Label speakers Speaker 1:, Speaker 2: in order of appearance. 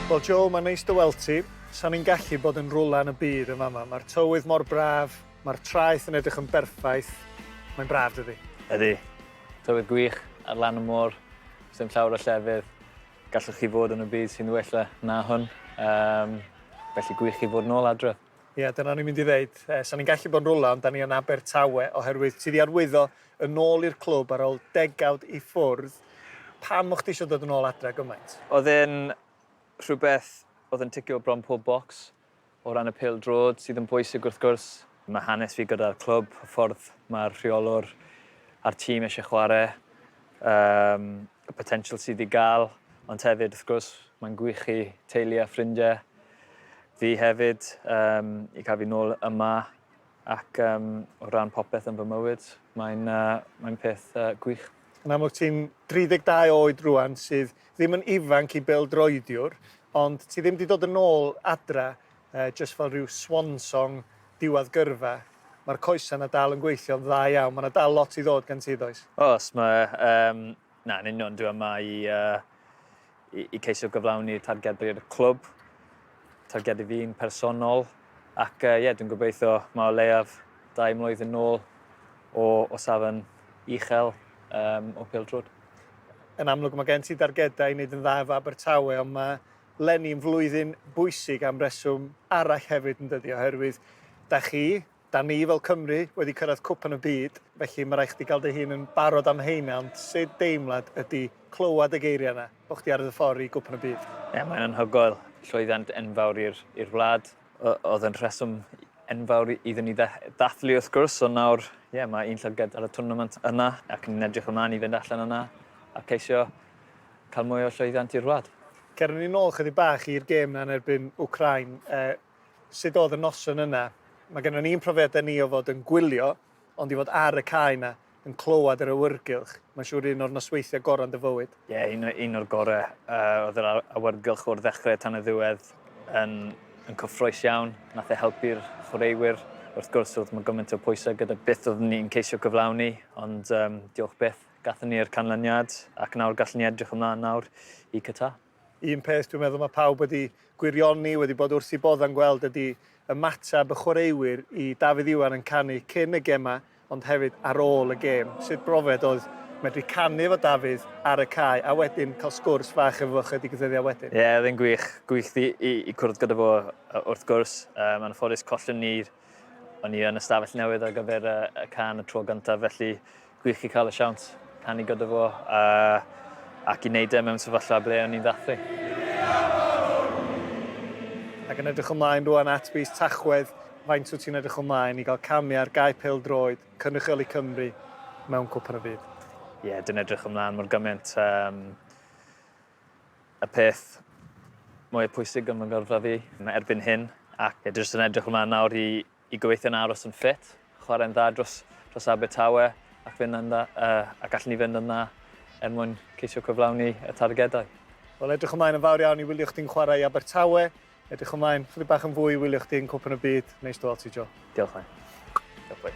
Speaker 1: Wel Joe, mae'n neis dy weld ti. Sa'n ni'n gallu bod yn rwla yn y byd yn fama. Mae'r tywydd mor braf, mae'r traeth yn edrych yn berffaith. Mae'n braf dydi? Ydy. Tywydd gwych ar lan y môr, sdim llawer o llefydd gallwch chi fod yn y byd sy'n wella na hwn. Um, felly gwych i fod yn ôl adref. Ie, yeah, dyna ni'n mynd i ddeud. Eh, sa'n ni'n gallu bod yn rwla, ond da ni yn Abertawe, oherwydd ti di arwyddo yn ôl i'r clwb ar ôl degawd i ffwrdd, pam o'ch chdi isio dod yn ôl adra gymaint? Oedd e'n rhywbeth oedd yn ticio bron pob bocs o ran y pêl-droed, sydd yn bwysig wrth gwrs. Mae hanes fi gyda'r clwb, y ffordd mae'r rheolwr a'r tîm eisiau chwarae, yym, y potensial sydd i gael, ond hefyd, wrth gwrs, mae'n gwych i teulu a ffrindiau fi hefyd, yym, i cael fi nôl yma. Ac um, o ran popeth yn fy mywyd, mae'n uh, mae peth uh, gwych. Yn amlwg ti'n 32 oed rwan sydd ddim yn ifanc i bêl droediwr, ond ti ddim wedi dod yn ôl adra uh, just fel rhyw swan song diwedd gyrfa mae'r coesau yna dal yn gweithio'n dda iawn. Mae yna dal lot i ddod gan ti, does? Os, mae um, Na, yn union. Dwi yma i, uh, i, i ceisio gyflawni targedu'r clwb, targedu fi'n personol, ac ie, uh, yeah, dwi'n gobeithio mae o leiaf dau mlwyddyn nôl o, o safon uchel um, o pil trwyd. Yn amlwg mae gen ti dargedau i wneud yn dda efo Abertawe, ond mae Lenny yn flwyddyn bwysig am reswm arall hefyd yn dydi, oherwydd da chi Dan ni fel Cymru wedi cyrraedd Cwpan y Byd, felly mae rhaid chdi gael dy hun yn barod am heina, ond sut deimlad ydy clywed y geiriau yna, bod chdi ar dy ffordd i Gwpan y Byd? Ie, mae'n anhygoel. Llwyddiant enfawr i'r i'r wlad. O- oedd yn rheswm enfawr iddyn ni dd- ddathlu wrth gwrs, ond nawr, ie, mae un llygad ar y twrnament yna, ac ni'n edrych ymlaen i fynd allan yna a ceisio cael mwy o llwyddiant i'r wlad. Cerwn ni nôl chydig bach i'r gêm yna yn erbyn Wcráin. Sut oedd y noson yna? Mae gennon ni'n profiadau ni o fod yn gwylio, ond i fod ar y cae 'na, yn clywed yr awyrgylch, mae'n siŵr un o'r nosweithiau gorau yn dy fywyd. Ie, yeah, un, un o'r gorau. Uh, oedd yr awyrgylch o'r ddechrau tan y ddiwedd yn, yn cyffroes iawn. Nath e helpu'r chwaraewyr. Wrth gwrs, oedd mae gymaint o pwysau gyda beth oedd ni'n ceisio cyflawni, ond um, diolch beth, gathen ni'r canlyniad, ac nawr gallwn ni edrych ymlaen nawr i Qatar. Un peth dwi'n meddwl mae pawb wedi gwirioni, wedi bod wrth i bodd yn gweld ydy ymateb y chwaraewyr i Dafydd Iwan yn canu cyn y gemau ond hefyd ar ôl y gêm. Sut brofiad oedd medru canu efo Dafydd ar y cae a wedyn cael sgwrs fach efo fo chydig ddyddiau wedyn? Ie, oedd e'n gwych. Gwych i, i, i cwrdd gyda fo wrth gwrs. Um, anffodus collon ni'r O'n i yn y stafell newydd ar gyfer y, y can y tro gyntaf, felly gwych i cael y siawns canu gyda fo a, ac i wneud e mewn sefyllfa ble o'n i'n ddathlu. Ac yn edrych ymlaen rwan at fis Tachwedd, faint wyt ti'n edrych ymlaen i gael camu ar gae pel droed cynrychioli Cymru mewn Cwpan y Byd? Ie, yeah, dwi'n edrych ymlaen mor gymaint. Um, Y peth mwya pwysig yn fy ngyrfa fi erbyn hyn ac dwi jyst yn edrych ymlaen nawr i i gobeithio'n aros yn ffit, chwarae'n dda dros dros Abertawe ac fynd yn dda yy a gallen ni fynd yn dda er mwyn ceisio cyflawni y targedau. Wel edrych ymlaen yn fawr iawn i wylio chdi'n chwarae i Abertawe. Edrych ymlaen chydig bach yn fwy i wylio chdi yn Cwpan y Byd. Neis dy weld ti, Joe. Diolch, Len. Diolch, boi.